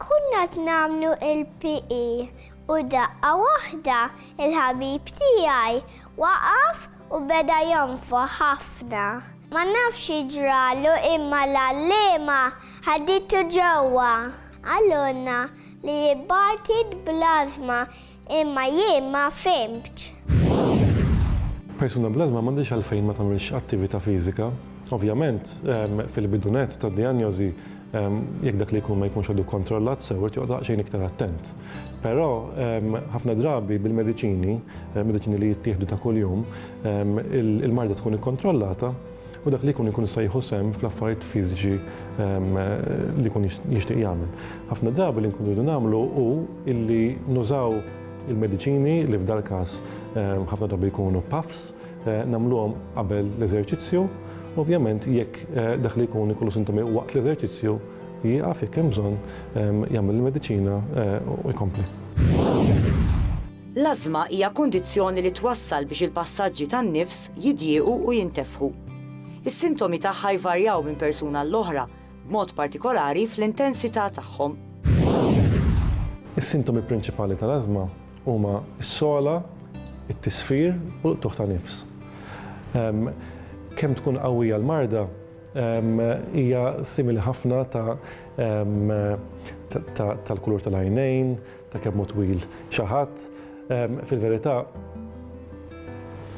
Konna qed nagħmlu il-PE u daqqa waħda il-ħabib tiegħi waqaf u beda jonfoħ ħafna. Ma nafx xi ġralu imma l-għalliema ħaditu ġewwa. Qalulna li jibgħat id bl-ażma Imma jien ma fhimtx. Persuna bl-ażma m'għandhiex għalfejn ma tagħmilx attività fiżika. Ovvjament, fil-bidu nett tad-dijanjożi, jekk dak li jkun ma jkunx għadu kkontrollat sew, irid joqgħod daqsxejn iktar attent. Però, ħafna drabi bil-mediċini, mediċini li jittieħdu ta' kuljum, il-marda tkun ikkontrollata u dak li jkun ikun jista' jieħu sehem fl-affarijiet fiżiċi li jkun jixtieq jagħmel. Ħafna drabi li nkunu rridu nagħmlu hu illi nużaw il-mediċini li f'dal każ ħafna drabi jkunu puffs, eh, nagħmluhom qabel l-eżerċizzju. Ovvjament jekk eh, dak li jkun ikollu sintomi waqt l-eżerċizzju jieqaf jekk hemm bżonn jagħmel il-mediċina eh, u jkompli. L-ażma hija kundizzjoni li twassal biex il-passaġġi tan-nifs jidjiequ u jintefħu. Is-sintomi tagħha jvarjaw minn persuna għall-oħra, b'mod partikolari fl-intensità tagħhom. Is-sintomi prinċipali tal-ażma huma s-sogħla, it-tisfir u l-qtugħ ta' nifs. Kemm tkun qawwija l-marda, hija simili ħafna ta' tal-kulur tal-għajnejn, Ta' kemm hu twil xi ħadd. Fil-verità,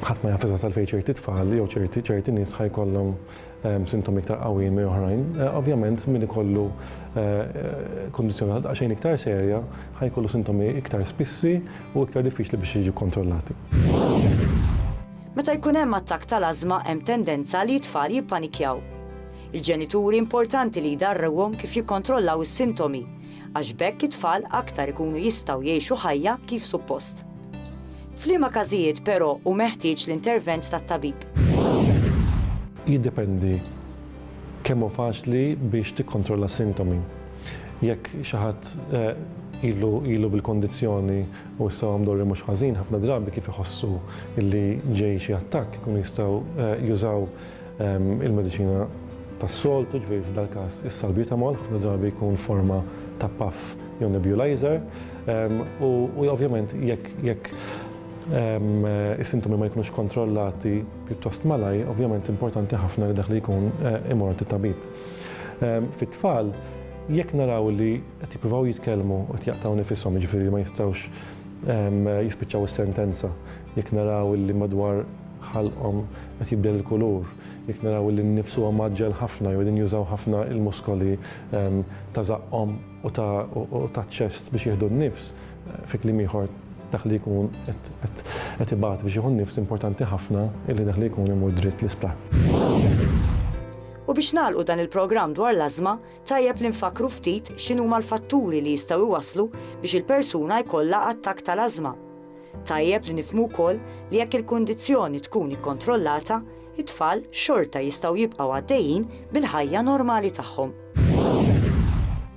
ħadd ma jaf eżatt għalfejn ċerti tfal jew ċerti ċerti nies ħa jkollhom sintomi iktar qawwijin minn oħrajn. Eh, ovvjament, min ikollu eh, kundizzjoni xejn iktar serja ħa jkollu sintomi iktar spissi u iktar diffiċli biex jiġu kontrollati. Meta jkun hemm attakk tal-ażma hemm tendenza li t-tfal jippanikjaw. Il-ġenituri importanti li jdarrewhom kif jikkontrollaw is-sintomi għax b'hekk it-tfal aktar ikunu jistgħu jgħixu ħajja kif suppost. F'liema każijiet però hu meħtieġ l-intervent tat-tabib? Jiddependi kemm hu faċli biex tikkontrolla s-sintomi. Jekk xi ħadd ilu bil-kondizzjoni u issa huwa mdorri mhux ħażin, ħafna drabi kif iħossu li ġej xi attakk ikunu jistgħu jużaw Il-mediċina tas-soltu, ġifieri f'dal-każ is-salbutamol, ħafna drabi jkun forma ta' puff jew nebulizer. U ovvjament jekk is-sintomi ma jkunux kontrollati pjuttost malajr, ovvjament importanti ħafna li dak li jkun imur għand it-tabib. Fit-tfal, jekk naraw li qed jippruvaw jitkellmu u qed jaqtgħu nifishom, jiġifieri ma jistgħux jispiċċaw is-sentenza, jekk naraw li madwar ħalqhom qed jibdel il-kulur, jekk naraw illi n-nifs huwa mgħaġġel ħafna jew qegħdin jużaw ħafna l-muskoli ta' żaqqhom u taċ-ċest biex jieħdu n-nifs, fi kliem ieħor dak li jkun qed ibati biex jieħu n-nifs importanti ħafna illi dak li jkun imur dritt l-isptar. U biex nagħlqu dan il-programm dwar l-ażma, tajjeb li nfakkru ftit x'inhuma l-fatturi li jistgħu jwasslu biex il-persuna jkollha attakk tal-ażma. Tajjeb li nifhmu wkoll li jekk il-kundizzjoni tkun ikkontrollata, it-tfal xorta jistgħu jibqgħu għaddejjin bil-ħajja normali tagħhom.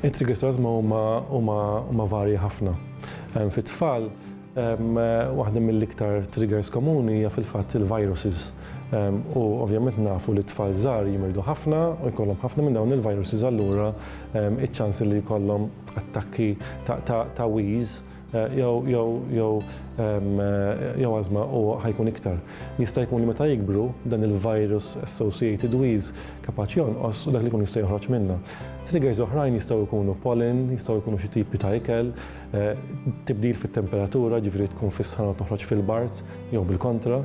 It-trigger sounds huma varji ħafna. Fit-tfal, waħda mill-iktar triggers komuni hija fil-fatt il-viruses. U ovvjament nafu li t-tfal żgħar jimirdu ħafna u jkollhom ħafna minn dawn il-viruses allura iċ-ċans li jkollhom attakki ta' wheeze Eh, jew jew jew eh, jew azma u ħajkun iktar. Jista' jkun li meta jikbru dan il-virus associated wheeze kapaċi jonqos u dak li jkun jista' joħroġ minna. Triggers oħrajn jistgħu jkunu pollen, jistgħu jkunu xi tipi ta' ikel, eh, tibdil fit-temperatura, ġifieri tkun fis-sħana toħroġ fil-bart jew bil-kontra.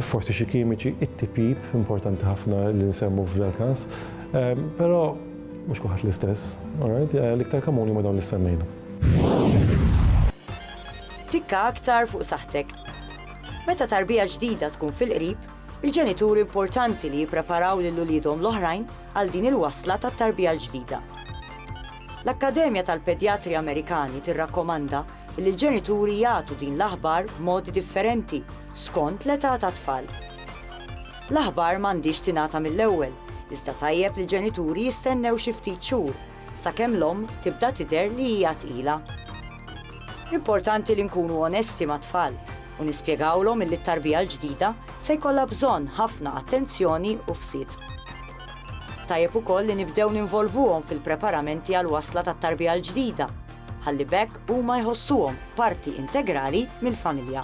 Forsi xi kimiċi, it-tipip, importanti ħafna li nsemmu f'dal każ. Però Mhux kulħadd l-istess, alright? Eh, l-iktar komuni ma dawn li semmejna. Tikka aktar fuq saħtek. Meta tarbija ġdida tkun fil-qrib, il-ġenituri importanti li jippreparaw lil uliedhom l-oħrajn għal din il-wasla tat-tarbija l-ġdida. L-Akkademja tal-Pedjatri Amerikani tirrakkomanda li l-ġenituri jagħtu din l-aħbar b'modi differenti skont l-età tat-tfal. L-aħbar m'għandhiex tingħata mill-ewwel, iżda tajjeb li l-ġenituri jistennew xi ftit xhur sakemm l-omm tibda tidher li hija tqila. Importanti li nkunu onesti mat-tfal u nispjegawlhom illi t-tarbija l-ġdida se jkollha bżonn ħafna attenzjoni u fsid. Tajjeb ukoll li nibdew ninvolvuhom fil-preparamenti għall-wasla tat-tarbija l-ġdida ħalli b'hekk huma jħossuhom parti integrali mill-familja.